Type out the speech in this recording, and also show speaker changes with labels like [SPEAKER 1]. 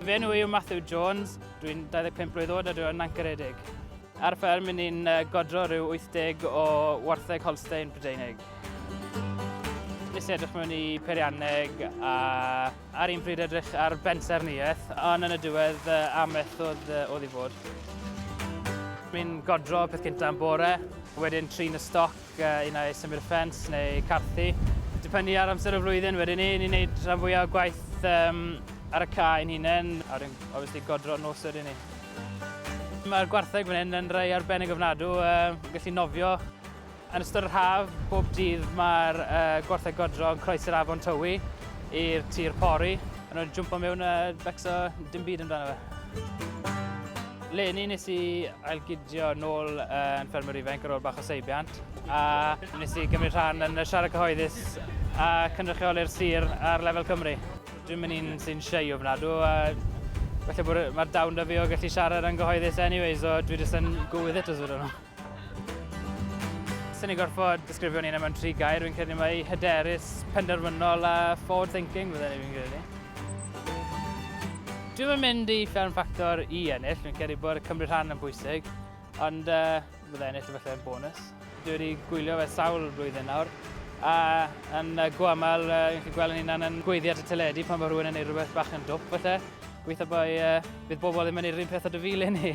[SPEAKER 1] Fy enw i yw Matthew Jones, dwi'n 25 blwydd oed a dwi'n ancaredig. Ar fferm yn ni'n godro rhyw 80 o wartheg Holstein Brydeinig. Nes i edrych mewn i peirianneg a ar un pryd edrych ar bensaernïaeth, ond yn y diwedd am ethodd oedd i fod. Mi'n godro peth cyntaf yn bore, wedyn trin y stoc, ac unai symud y ffens neu carthu. Dibynnu ar amser y flwyddyn wedyn ni, ni'n neud rhan fwyaf o gwaith um, ar y cae ein hunain, a wedyn obviously godro nos wedyn ni. Mae'r gwartheg fan hyn yn rhai arbennig ofnadw, um, gallu nofio. Yn ystod yr haf, bob dydd mae'r uh, gwartheg godro yn croes yr afon Tywi i'r tir pori, a nhw'n jwmpo mewn a uh, becso dim byd amdano fe. Leni nes i ailgydio nôl yn ffermwr ifanc ar ôl bach o seibiant a nes i gymryd rhan yn y siarad cyhoeddus a cynrychioli'r sir ar lefel Cymru. Dwi'n mynd i'n sy'n siei o fnadw a felly mae'r dawn da fi o gallu siarad yn gyhoeddus anyways so dwi jyst yn go with it os ydyn nhw. Swn i'n gorfod disgrifio ni yna mewn tri gair, fi'n credu mae hyderus, penderfynol a forward thinking fydden ni fi'n credu. Dwi'n yn mynd i fferm ffactor i ennill, fi'n credu bod y Cymru rhan yn bwysig, ond uh, fydde ennill efallai yn bonus. Dwi wedi gwylio fe sawl blwyddyn nawr, a yn uh, go aml, uh, fi'n chi gweld yn hunan yn gweiddi at y teledu pan mae rhywun yn ei rhywbeth bach yn dwp falle. Gweithio bod uh, bydd bobl ddim yn ei rhywun peth o dy fil i ni.